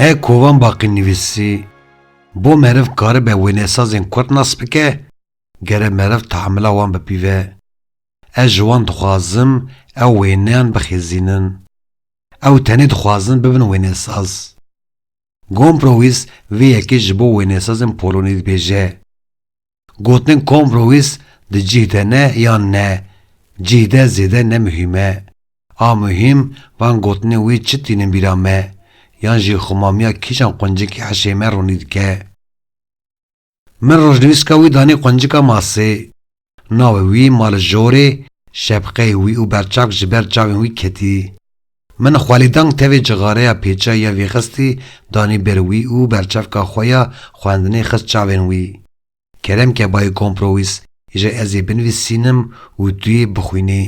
Hê kovan baqî nivîsî bo meriv karibe wênesazên kurd nas bike, gere meriv taemila wan bipîve. Ez ji wan dixwazim ew wêneyan bixêzînin. Ew tenê dixwazin bibin wênesaz. Gombrowis vê yekê ji bo wênesazên Polonî dibêje, Gotin Kombrowis di cih de ne yan ne, cih de zêde ne muhîm e. A muhîm van gotinên wê çi tînin bîra me, yan jî xwemamiya kîjan quncikî hişê me ronî dike. Min rojnivîska wî danê quncika masê. Navê wî ma li jorê, şepqeyê wî û berçavk ji ber çavên wî ketî. Min xwelîdank tevê cixareya pêça ya vî xistî danî ber wî û berçavka xwe ya xwendinê xist çavên wî. Kerem ke bayê kompro wîs îje ez ê binivîsînim û tu yê bixwînî.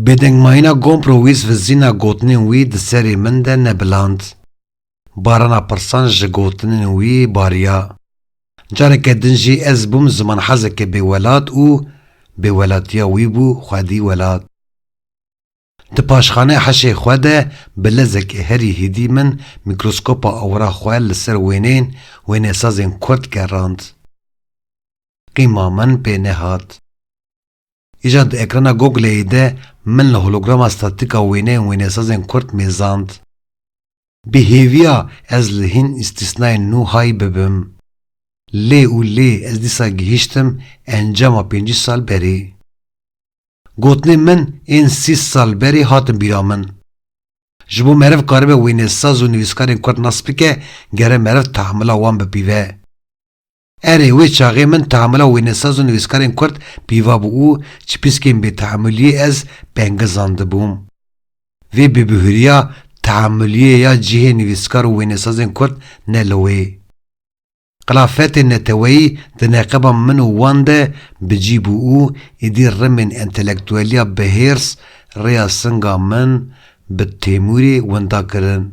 Bêdengmayîna Gompro wîs vizîna gotinên wî di serê min de nebiland. Barana pirsan ji gotinên wî bariya. Careke din jî ez bûm zimanhezeke bêwelat û bêwelatiya wî bû xwedî welat. Di paşxanê heşê xwe de bi lezek herî hîdî min mîkroskopa awira xwe li ser wêneyên wênesazên kurd gerand. Qîma min pê nehat. Îcar di ekrana Google'ê de min li holograma statika wêneyên wênesazên Kurd mêzand. Bi hêviya ez li hîn îstîsnayên nû hay bibim. Lê û lê ez dîsa gihîştim encama pêncî sal berê. Gotinên min ên sî sal berê hatin bîra min. Ji bo meriv karibe wênesaz û nivîskarên Kurd nas bike gere meriv teamula wan bipîve. Erê, wê çaxê min teamula wênesaz û nivîskarên kurd pîva bû û ji pîskên bêteamuliyê ez pengil zandibûm. Vê bêbihuriya teamuliyê ya cihê nivîskar û wênesazên kurd ne li wê. Xilafetê neteweyî di neqeba min û wan de bi cî bû û êdî rimên entelektueliya bihêrs rêya singa min bi Têmurê winda kirin.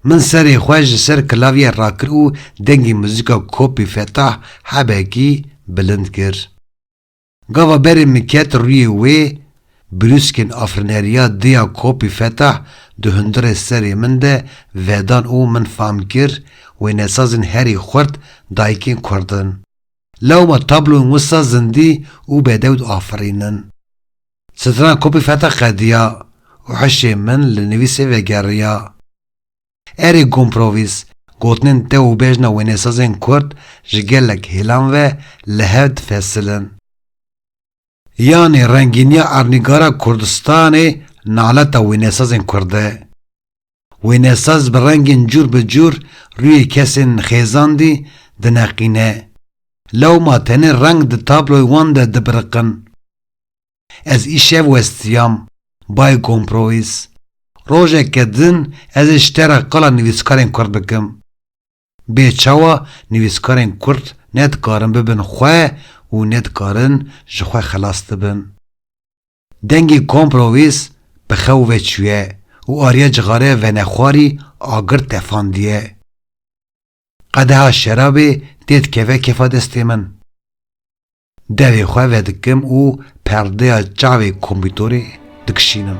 Min serê xwe ji ser klavye rakir û dengê muzîka Kopî Fetah hebekî bilind kir. Gava berê min ket rûyê wê, brûskên afirneriya di ya Kopî Fetah di hundirê serê min de vedan û min fam kir wênesazên herî xurt dayikên kurd in. Lewma tabloyên wisa zindî û bedewd afirînin. Strana kopî feta qediya û hişê min li nivîsê vegeriya. Erê Gomprowîs, gotinên te û bejna wênesazên kurd ji gelek hêlan ve li hev difesilin. Yanî rengîniya ernîgara Kurdistanê naleta wênesazên kurd e. Wênesaz bi rengên cûr bi cûr rûyê kesên xêzandî dineqîne. Lewma tenê reng di tabloy wan de dibiriqin. Ez îşev westiyam, bayê komprowîs. Rojeke din ez ê ji te re qala nivîskarên kurd bikim. Bê çawa nivîskarên kurd ne dikarin bibin xwe û ne dikarin ji xwe xelas dibin. Dengê kompro wês bi xew ve çûye û ariya cixareya venexwarî agir tefandiye. Qedeha şerabê tê dikeve kefa destê min. Devê xwe vedikim û perdeya çavê kompîtorê dikişînim.